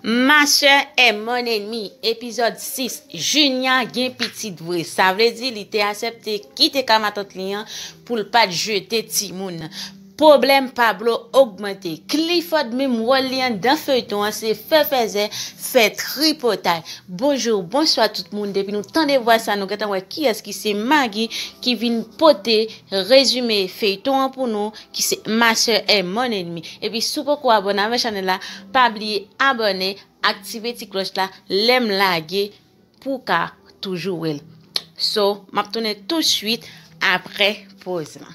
Ma sè e mon enmi epizòd 6 Junia gen pitit vre sa vle di li te asèpte kite ka matant li an poul pat jete timoun Pwoblèm Pablo ogmante Clifford menm wòl li anndan feyton an se fè fèzè fè tripotay Bonjour bonswa tout moun depi nou tande vwa sa nou gentan wè kiyès ki se Maggie ki vin pote rezime feyton an pou nou ki se master e mon ennemi epi si w poko abone avè chanèl la pa bliye abone aktive ti klòch la lèm lage pou w ka toujou wè l so map tounen tout swit aprè poz lan.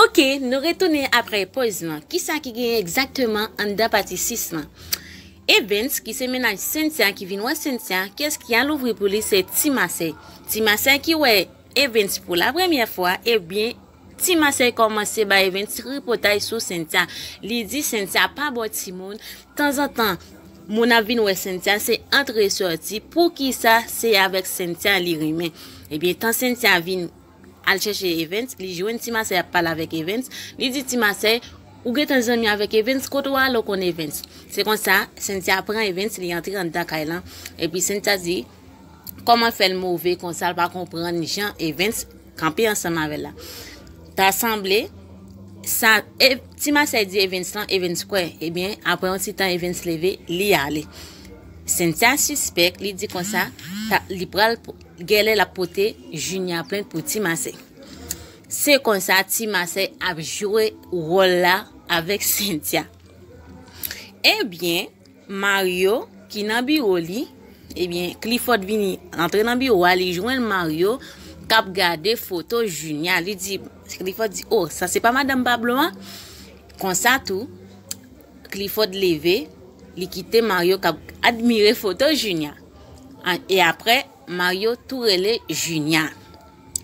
Ok, nou retounen apre poz lan. Kisa ki genyen egzakteman anndan pati 6 lan? Evens ki se mennaj Cynthia ki vin wè Cynthia, kès ki al ouvri pou li se Ti Masè. Ti Masè ki wè Evens pou la premyè fwa, ebyen Ti Masè kòmanse bay Evens tripotay sou Cynthia. Li di Cynthia pa bon timoun, tanzantan moun ap vin wè Cynthia se antre sòti, poukisa se avèk Cynthia li renmen. Ebyen tan Cynthia vin Al chèche Evens, li jwenn Ti Masèy ap pale avèk Evens, li di Ti Masèy, Ou gentan zanmi avèk Evens, kote w ale w konn Evens? Se konsa, Sentia pran Evens, li antre anndan kay lan, epi Sentia di, Kòman fè l move konsa l pa konprann jan Evens kanpe ansanm avè l la? Ta sanble, sa e, Ti Masèy di Evens lan, Evens kwè, ebyen, apre yon ti tan Evens leve, li ale. Sentia sispèk, li di konsa, ta, li pral. Gèlè lap pote junia plent pou ti masey se konsa ti masey ap jwe wòl la avèk sentia ebyen mario ki nan biwo li ebyen cliford vini antre nan biwo a li jwenn mario kap gade foto junia li di cliford di oh sa se pa madam pablo a konsa tou cliford leve li kite mario kap admire foto junia. e aprè Mario tou rele Junia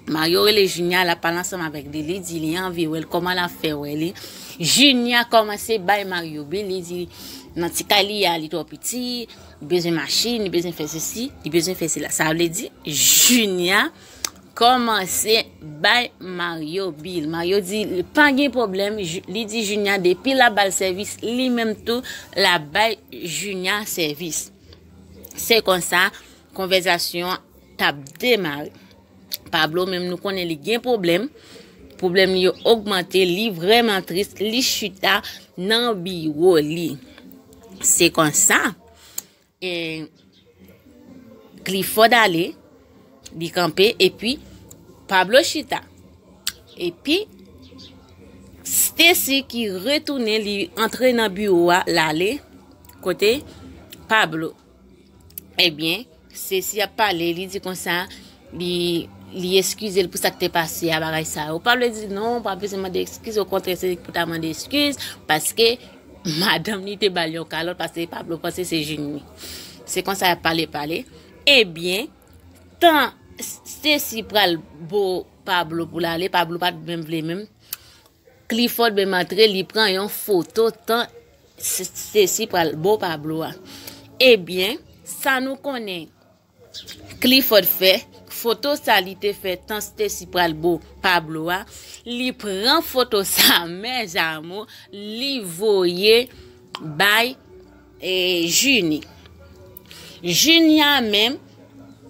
Mario rele Junia la pale ansanm avèk li li di li anvi wèl kòman la fè wè li Junia kòmanse bay Mario bi li di nan ti kay li a li twò piti bezwen machin li bezwen fè sesi li bezwen fè sila sa vle di Junia kòmanse bay Mario bil Mario di li pa gen pwoblèm li di Junia depi la bal sèvis li menm tou la bay Junia sèvis. Se konsa, konvèzasyon an t ap demare. Pablo menm nou konnen li gen pwoblèm, pwoblèm li yo ogmante, li vrèman tris, li chita nan biwo li. Se konsa, e, Clifford ale, Li kanpe epi Pablo chita. Epi Stacy ki retounen li antre nan biwo a lale kote Pablo. Ebyen Stacy ap pale li di konsa li eskize l pou sa k te pase a bagay sa yo. Pablo di non pa bezwen mande eskize okontrè se li pou ta mande eskize paske madanm li te ba l yon kalòt paske Pablo panse se jinn li. Se konsa y ap pale pale. Ebyen tan Stacy pral bo Pablo poul ale Pablo pat menm vle menm Clifford menm antre li pran yon foto tan Stacy pral bo Pablo a ebyen sa nou konnen Clifford fè foto sa li te fè tan Stacy pral bo Pablo a li pran foto sa men Jamo li voye bay E Junie. Junia menm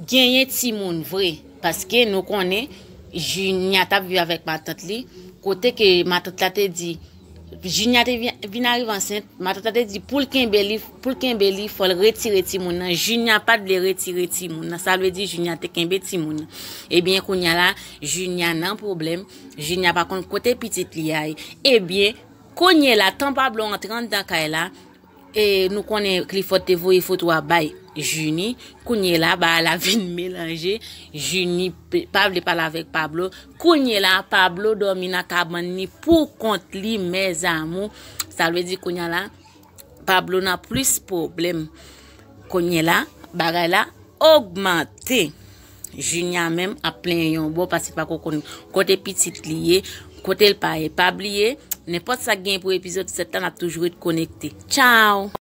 genyen timoun vre paske nou konnen Junia tap viv avèk matant li kote ke matant la te di Junia te vin arive ansent matant la te di pou l kenbe li pou l kenbe li fò l retire timoun nan Junia pat vle retire timoun nan sa vle di Junia te kenbe timoun nan ebyen kounya la Junia nan pwoblèm Junia pa konn kote pitit li a ye ebyen Kounye la tan Pablo antre anndan kay la e nou konnen Clifford te voye foto a bay Junie, kounye la bagay la vin melanje, Junie pa vle pale avèk Pablo, kounye la Pablo dòmi nan kabann li pou kont li mes amours, sa vle di kounye la Pablo nan plis pwoblèm kounye la, bagay la ogmante. Junia menm ap plenyen yon bò pase pa ko konn kote pitit li ye, kote l pa ye. Pa bliye, nenpòt sa gen pou epizòd 7 la nap toujou ret konekte. Ciao!